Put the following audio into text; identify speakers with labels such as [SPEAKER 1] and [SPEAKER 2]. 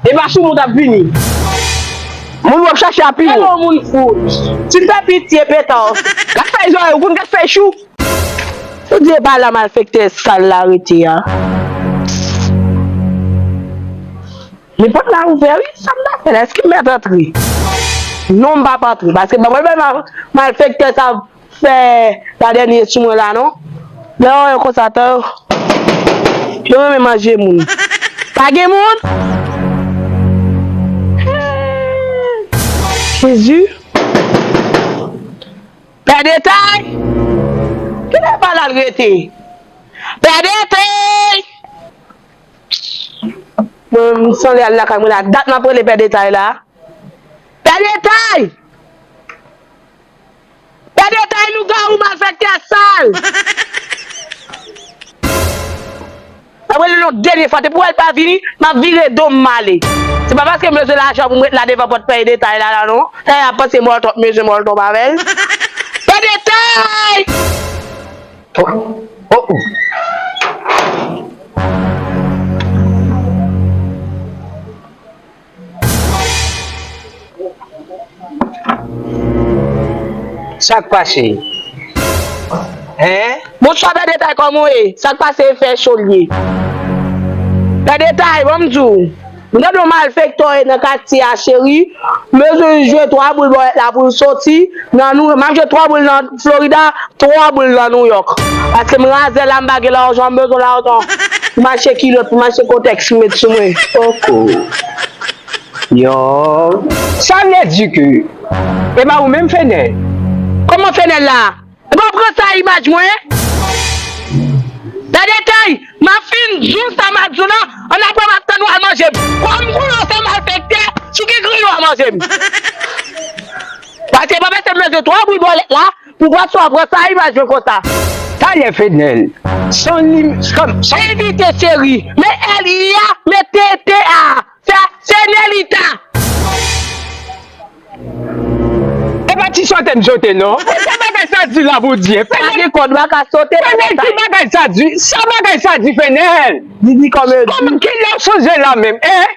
[SPEAKER 1] Epa sou moun tap vini. Moun wap chache a pi wo. Hello moun fou. Tu fè pitye petals. Kat fèy zorèy ou konn kat fèy chou. Ou di epa la malfektè sal la rete a. Men pòt la ouvè wi sam ta fè la eske m mèt antre. Non m pap antre paske banm yon bèl malfektè sa. Fè pa dènye sou mwen la non. Lè yo wè yo konsa tan yo renmen manje moun. Pa gen moun? Jezi! Pè Detay! Kilè pa lal rete? Pè Detay! Mwen menm m sanle al lakay mwen la dat map rele Pè Detay la. Pè Detay! Fè detay lougawou malfèktè sal. Map relel yon denye fwa depi wèl pa vini map vire dom male se pa paskem bezwen lajan poum ret la devan pòt fè detay la la non eeh ap panse mòl twòp mezyen mòl twòp avèl fè detay oh oh oh.
[SPEAKER 2] Sak pase? Hein? Bonswa pè
[SPEAKER 1] detay kòman w ye? Sak pase e fè cho l ye? Pè detay banm di w m tande yon malfektò e nan katye a cheri m bezwen jwe 3 boul bòlèt la pou l soti nan nou map jwe 3 boul nan Florida tro boul nan New York paske m razè la m pa gen lajan m bezwen lajan pou m achte kilot pou m achte koteks pou m met sou mwen poko
[SPEAKER 2] yon. Sa vle di ke e ba ou menm fenel. Koman fenel
[SPEAKER 1] la? Ou pa pran sa imaj mwen? Gade kay, map fin diw sa map diw la, an aprè map tann ou al manje m. Kòm koulè w se malfektè, si w gen griyo a manje m. Pase pa pase m lanse 3 boul bòlèt la pou Gwasso a pran sa imaj yo konsa. Talè Fednel
[SPEAKER 2] son lim son son. Envite cheri
[SPEAKER 1] men L I a men T T A sa se Nelita.
[SPEAKER 2] E pa ti sote m sote non. Fè sa bagay sa di la pou Dye. Pa gen kòd wa ka
[SPEAKER 1] sote la Fenel ki bagay sa
[SPEAKER 2] di sa bagay sa di Fenel. Didi komedi.
[SPEAKER 1] Kilè w sonje
[SPEAKER 2] la menm eh.